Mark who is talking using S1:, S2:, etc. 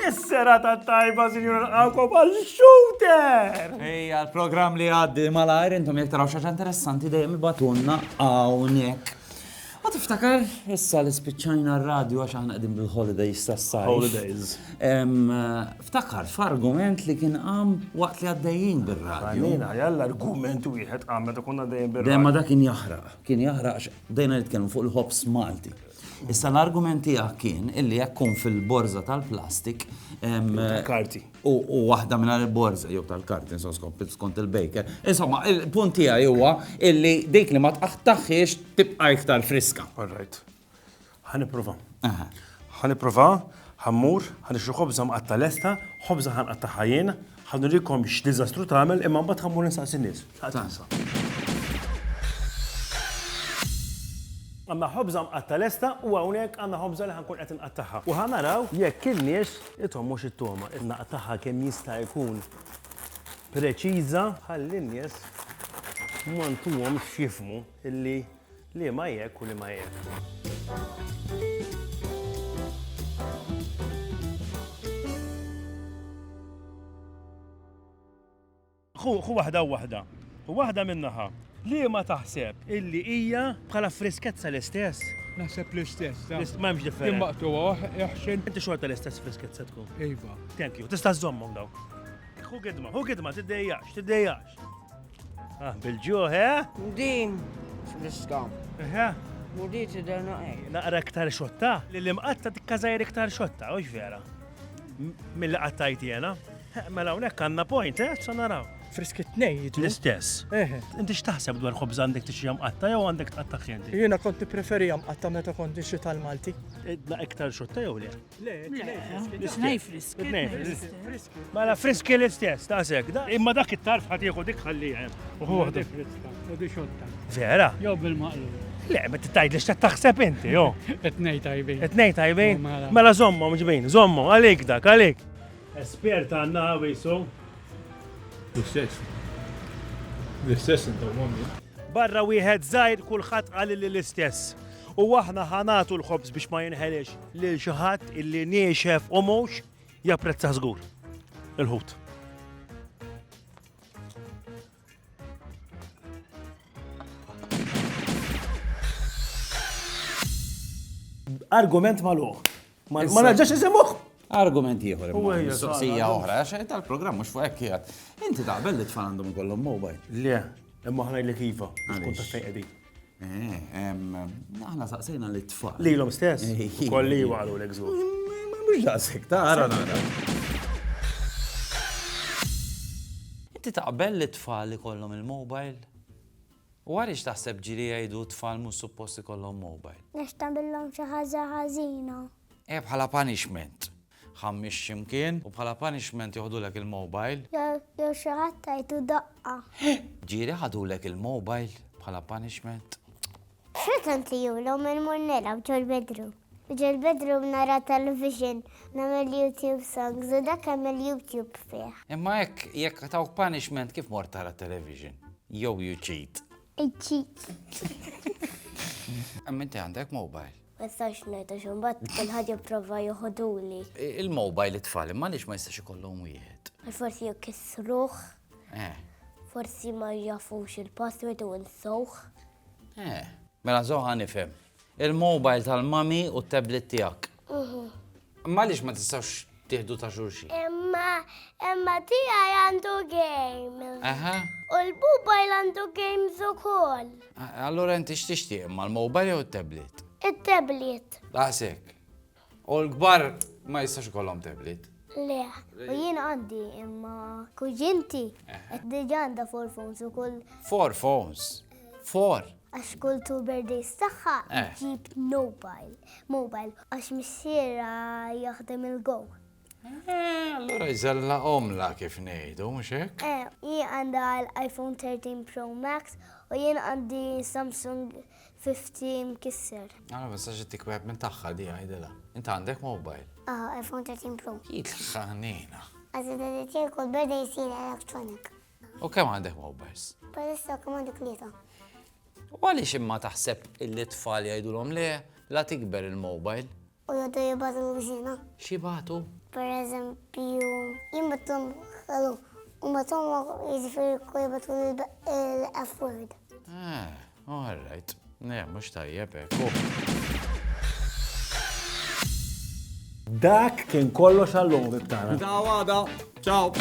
S1: Is-serata tajba, sinjura l-għakom għal-shooter! Ej, għal-program
S2: li għaddi mal-għajr, intom jek taraw xaġa interessanti dejjem ibatunna għawnek. Ma tiftakar, issa li spiċċajna r-radju għax aħna qegħdin bil-holidays tas-sajf. Holidays. Ftakart f'argument li kien qam waqt li għaddejjin bir-radju. Għalina, jalla argument
S1: wieħed qam meta konna għaddejjin bir-radju. Le, imma dak kien jaħraq.
S2: Kien jaħraq għax bdejna nitkellmu fuq il-ħobż Malti. Issa l-argument tiegħek kien illi jekk tkun fil-borża tal-plastik. Tal-karti.
S1: U waħda
S2: minn il-borża jew tal-karti skont il-baker. Insomma, il-punt tiegħi huwa illi dik li ma tqaħtaħiex tibqa' iktar friska. All right.
S1: Ħa nipprova. Ħa nipprova, ħammur, ħa nixtru ħobża mqatta lesta, ħobża ħan qatta ħajjien, ħa nurikom x'diżastru tagħmel imma mbagħad ħammur nistaqsi nies. Għanna ħobża mqatta lesta u hawnhekk għandna ħobża li ħankun qed inqattaħħa. U ħa naraw jekk in-nies ithom mhux it-toma, innaqtaħħa kemm jista' jkun preċiża ħalli n-nies ma ntuhom x'jifmu illi Liema jekk u liema jekk. Ħu ħu waħda u waħda. Ħu waħda minn naħa. Liema taħseb illi hija bħala friskezza l-istess? Naħseb l-istess.
S3: taf. L-ist- ma hemmx differenza. Kien
S1: maqtuha, eħxin.
S3: Inti xorta l-istess
S1: friskezza tkun. Iva. Thank you.
S3: Tista' żommhom
S1: daw. Ħu gidma, ħu gidma, tiddejjax, tiddejjax. Ah, bil-ġuħ, eh? Din,
S4: friska. Eh?
S1: U di tidher
S4: naqek. Naqra iktar xotta,
S1: li l-imqatta tikkazajr iktar xotta, u vera. Mill-li qattajt jena. Eh, mela unek għanna point, eh? Sa naraw. Friski t-nej jitlu.
S3: L-istess. Eh.
S1: Inti x'taħseb dwar ħobż għandek tixi jamqatta jew għandek tqatta ħjenti? Jiena kont nippreferi
S3: jamqatta meta kont nixi tal-Malti. Idna iktar
S1: xotta jew le? Mela friski l-istess, ta' sek. Imma dak it-tarf ħat jieħu dik ħalli hemm. Uħuħdu.
S3: Vera? Jew
S1: bil-maqlu.
S3: Le, ma t-tajd li
S1: taħseb inti, jo. Etnej tajbin.
S3: Etnej tajbin.
S1: Mela zommu, mġbin, zommu, għalik dak, għalik. Espert għanna għawisu. L-istess.
S3: L-istess inta għommi. Barra wieħed
S1: zaħir kullħat għalli l-istess. U aħna ħanatu l-ħobz biex ma jinħelix. Lil xi ħadd illi niexef u mhux japprezza żgur il-ħut. Argument maluħ. Ma naġġax isemuħ. Argument ieħor.
S2: Soqsija oħra,
S1: għax
S2: tal-programm mhux fuq hekk qiegħed. Inti taqbel li tfal għandhom ikollhom mobile. Le, imma
S1: ħnajlek iva. Għaliex. Eh,
S2: aħna saqsejna li tfal. Lilhom stess.
S1: Kolli jwalu l-egżu. Mhux daqshekk,
S2: tara nara. Inti taqbel li tfal li kollhom il-mobile? U għaliex taħseb ġili jgħidu tfal mhux supposti kollhom mobile? Għax tagħmilhom xi
S5: ħaġa ħażina. Eh bħala
S2: punishment. Ħammix x'imkien u bħala punishment joħdulek il-mobile. Jew xi ħadd
S5: tgħidlu daqqa. Ġieli
S2: ħadulek il-mobile bħala punishment. X'ħadd
S5: għandli jew lhom immur nilgħab ġol-bedroom. Ġol-bedroom nara television, nagħmel YouTube songs u dak hemm il-YouTube fih. Imma hekk jekk
S2: tawk punishment kif mort tara television? Jew you cheat? I cheat. Imma inti għandek mobile. Ma jistax ngħid
S5: għax imbagħad kulħadd jipprova joħoduli. Il-mobile
S2: it-tfal imma għaliex ma jistax ikollhom wieħed? Forsi jkissruh.
S5: Eh.
S2: Forsi
S5: ma jafux il-password u nsewh. Eh.
S2: Mela zoħa nifhem. Il-mobile tal-mami u t-tablet tiegħek. Mhm. Imma għaliex ma tistgħux tieħdu ta' xulxin? Imma imma
S5: tiegħi għandu game. Aha. U
S2: l-mobile
S5: għandu games ukoll. Allura inti
S2: x'tixtieq imma l-mobile jew it-tablet? It-tablet.
S5: Daqshekk.
S2: U l-kbar ma jistax ikollhom tablet. Le, u
S5: jien għandi imma kuġinti qed diġà għandha four phones ukoll. Four phones?
S2: Four? Għax kull two
S5: birthdays tagħha Eh. ġib mobile. Mobile għax missiera jaħdem il-go. Eh,
S2: allura jżella omla kif ngħidu, mhux hekk? Eh, hi għandha
S5: l-iPhone 13 Pro Max u jien għandi Samsung 50 mkisser. Għana ma sax ittik
S2: wieħed minn tagħha di għajdilha. Int għandek mobile. Ah, iPhone 13
S5: Pro. Jitlaħħanina.
S2: Għazin għazin
S5: kull birthday jisir
S2: electronic. U kemm għandek
S5: mowbers?
S2: Palissa
S5: kemm għandek
S2: tlieta. U għaliex imma taħseb illi tfal jgħidulhom le la tikber il-mobile? U jgħidu jibgħatu
S5: l-gżina. Xibatu?
S2: Per
S5: eżempju, jimbatum ħalu, u matum jiġifieri kull jibgħatu l-F word.
S2: Ah, all right. Ne, mhux tajjeb hekk. Dak
S1: kien kollox għall-lum
S2: bibtana.
S1: Ciao, għada. Ciao.